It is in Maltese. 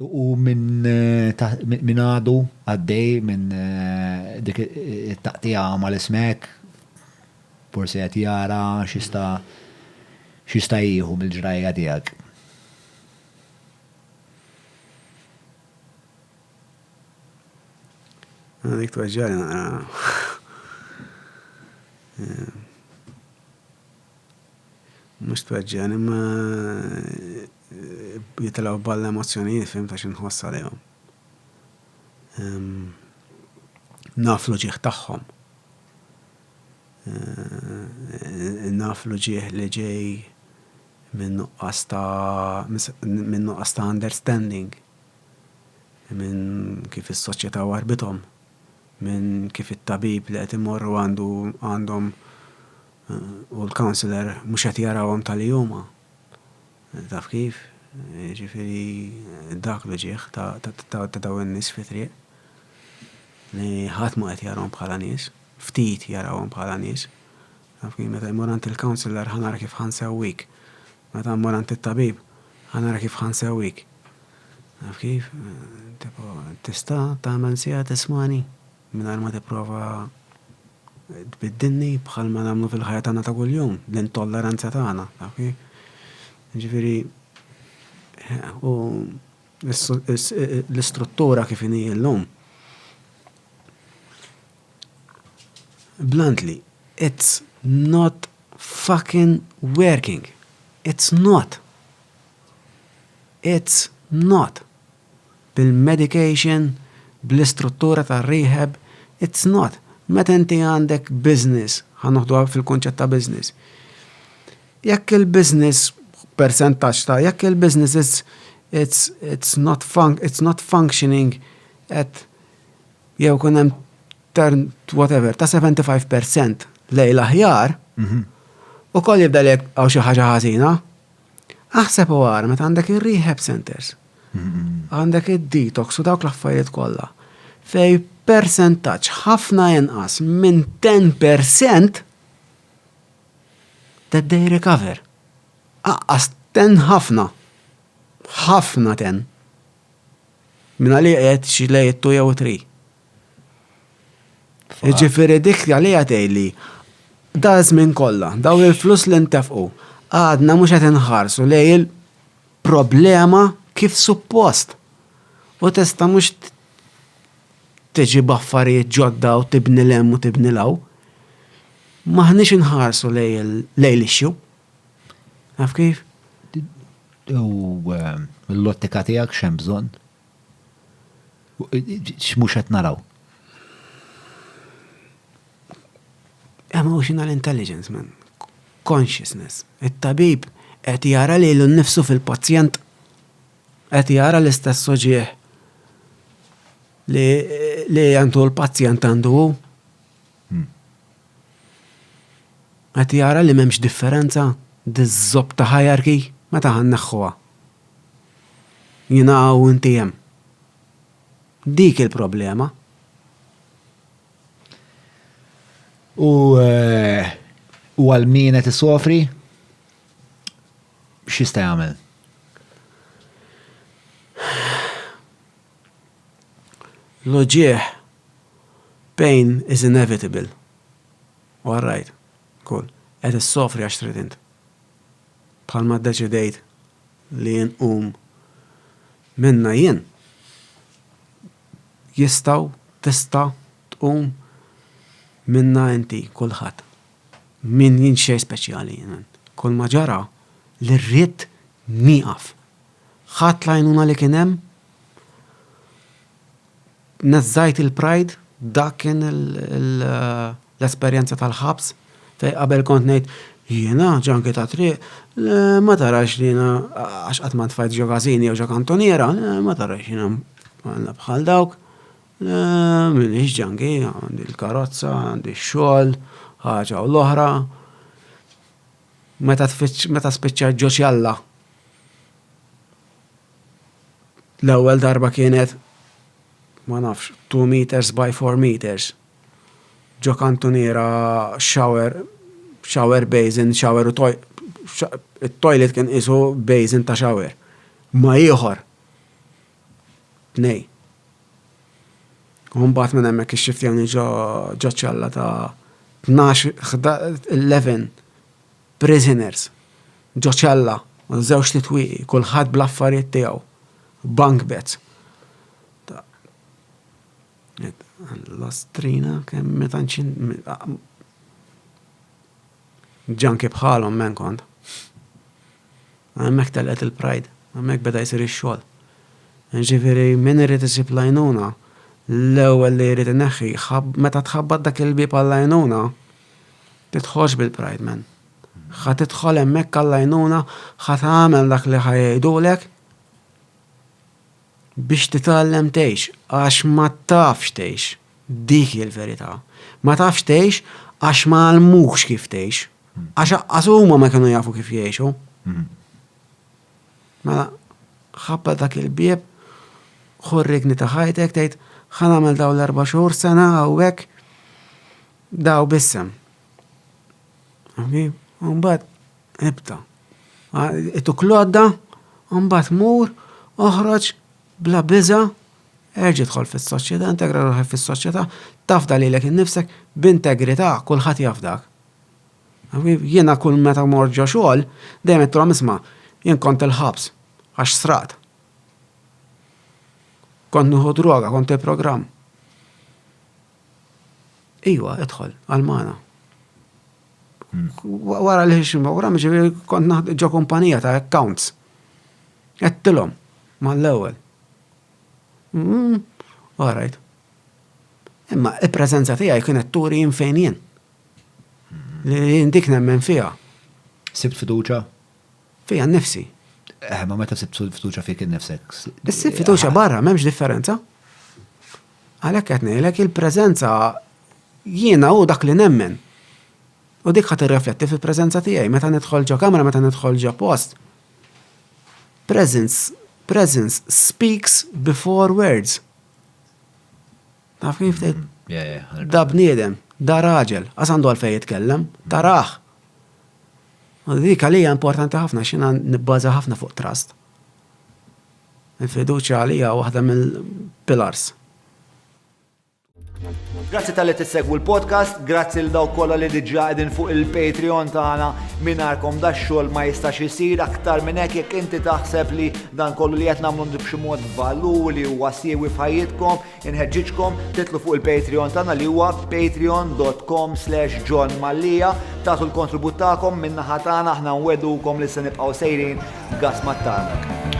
U min għadu għaddej minn dik it-taqtiegħa mal ismek, forsi qed jara x'jista' jieħu mill-ġrajja tiegħek. Dik tweġġagħli naqra. Mhux tweġġagħni imma jitilgħu f'ball l-emozzjonijiet fim ta' x'inħoss għalihom. Naf l-uġigħ tagħhom. Naf l-uġigħ li ġej minn nuqqas ta' minn nuqqas ta' understanding minn kif is-soċjetà warrbitom, minn kif it-tabib li qed imorru għandu għandhom u l-counsellor mhux qed jarawhom ta' li huma. Taf kif? Jiġifieri dak l-uġigħ ta' dawn in-nies fit-triq li ħadd mhu qed jarahom bħala nies, ftit jarahom bħala nies. Taf kif? Meta jmur għand il-counsellor ħa nara kif ħa nsewwik. Meta mmur għand it-tabib ħa nara kif ħa nsewwik. Taf kif? Tipo, tista' tagħmel siegħa tismagħni? Mingħajr ma tipprova tbiddilni bħalma nagħmlu fil-ħajja tagħna ta' kuljum, l-intolleranza tagħna, taf kif? Jiġifieri u l-istruttura kif inhi llum. Bluntly, it's not fucking working. It's not. It's not. bil-medication, bl-istruttura tar-rehab, it's not. Meta inti għandek business, ħa noħduha fil-kunċett ta' business, jekk il-business percentaġġ ta' jekk il-business it's, it's, it's, not, fun, it's not functioning at jew kun hemm turn whatever ta' 75% lejl aħjar, mm -hmm. u koll jibda li għaw xi ħaġa ħażina, Aħseb u ara meta għandek ir-rehab centers, għandek id-detox u dawk l-affarijiet kollha fej persentaġġ ħafna inqas minn 10% that they recover. Aqqas ten ħafna. Ħafna ten. Minna li għed xilej it-tu jew tri. Ġifiri dik li għatejli, da żmien kollha, daw il-flus li ntefqu, għadna mhux qed inħarsu lej il-problema kif suppost. U tista' mhux tiġi b'affarijiet ġodda u tibni l u tibni l-hawn. M'aħniex inħarsu lej l-issue. Taf kif? U l-lottika tiegħek x'hemm bżonn? X'mhux qed naraw? Emotional intelligence, man. Consciousness. It-tabib qed jara lilu nnifsu fil-pazjent. Qed jara l-istess uġieħ li għandu l-pazjent għandu hu. Hmm. Qed jara li m'hemmx differenza diż-żob ta' hierarchy meta ħanneħħuha. Jiena hawn u inti hemm. Dik il-problema. U eh, u għal min qed isofri x'jista' jagħmel? L-uġieħ pain is inevitable. U għarrajt, kull, qed issofri għax trid int. Bħalma ddeċidejt li inqum minnha jien, jistgħu, tista' tqum minnha inti, kulħadd. Min jien xejn speċjali jien. Kulma ġara li rridt nieqaf. Ħadt l-għajnuna li kien hemm Neżżajt il-pride, dak kien l-esperjenza tal-ħabs, fej qabel kont ngħid, jiena, ġanki ta' triq, le ma tarax li jiena għax qatt ma ntfajt ġo każin jew ġo kantuniera, le ma tarax jiena bħal dawk, le m'iniex ġanki, għandi l-karozza, għandi x-xogħol, ħaġa u l-oħra. Meta spiċċajt ġo ċella. L-ewwel darba kienet, ma nafx, two metres by four metres, ġo kantuniera shower, shower basin, shower u toi-, it-toilet kien qisu basin ta' shower. Ma' ieħor. Tnejn. U mbagħad minn hemmhekk ixxiftjawni ġo ċella ta' tnax, ħda-, eleven. Prisoners, ġo ċella, żewġt itwieqi, kulħadd bl-affarijiet tiegħu, bunk beds. L-ostrina kemm meta nċin. Ġanki bħalhom men kont. Hemmhekk telqet il-pride, hemmhekk beda jsir ix-xogħol. Ġifieri min irid isib l-għajnuna, l-ewwel li jrid ineħħi, meta tħabbat dak il-bieb għall-għajnuna, Titħoss bil pride man. Ħa tidħol hemmhekk għall għajnuna ħa tagħmel dak li ħa jgħidulek biex titgħallem tgħix għax ma tafx tgħix. Dik hi l-verità. Ma tafx tgħix għax ma għallmukx kif tgħix. Għax aqqas huma ma kienu jafu kif jgħixu. Mela, ħabba dak il-bieb, ħurrikni ta' ħajtek, tgħid ħa nagħmel dawn l-erba' xhur sena hawnhekk Daw b'isem. Mbagħad ibta. Ituk l-għodda, mbagħad mur, oħroġ bla biża, erġa' dħol fis-soċjetà, integra ruħek fis-soċjetà, tafda lilek innifsek b'integrità kulħadd jaf dak. Jiena kull meta mor ġo xogħol, dejjem qedtilhom isma' jien kont il-ħabs għax sraqt. Kont nieħu droga, kont il-programm. Iwa, idħol, għal-mana. Wara li xim program, ġiviri kont naħd ġo kumpanija ta' accounts. Għettilom, ma l-ewel. Mm, Alright. Imma il-prezenza tijaj kienet turi jinfejnien. Li jindik nemmen fija. Sibt fiduċa? Fija nifsi. Eh, ma meta sibt fiduċa fik nifsek. Sibt fiduċa barra, memx differenza. Għalhekk qed ngħidlek il-preżenza jiena hu dak li nemmen. U dik ħadd irrefletti fil-preżenza tiegħi meta nidħol ġo kamra, meta nidħol ġo post. Presence, presence speaks before words. Taf kif tgħid? Mm, da bniedem, da raġel, għas għandu għalfej jitkellem, taraħ. U dik għalija importanti ħafna xina nibbaza ħafna fuq trust. Il-fiduċja għalija hija waħda mill-pilars. Grazzi talli tissegwu l-podcast, grazzi lil dawk kollha li diġà qegħdin fuq il-Patreon tagħna. Mingħajrkom da xogħol ma jistax isir aktar minn hekk jekk inti taħseb li dan kollu li qed nagħmlu b'xi mod valur li huwa siewi f'ħajjitkom, Inħeġġiġkom titlu fuq il-Patreon tagħna li huwa patreon.com slash John Mallia tagħtu l-kontribut tagħkom min-naħa tagħna aħna nwedukom li se nibqgħu sejrin gas mat-tarnak.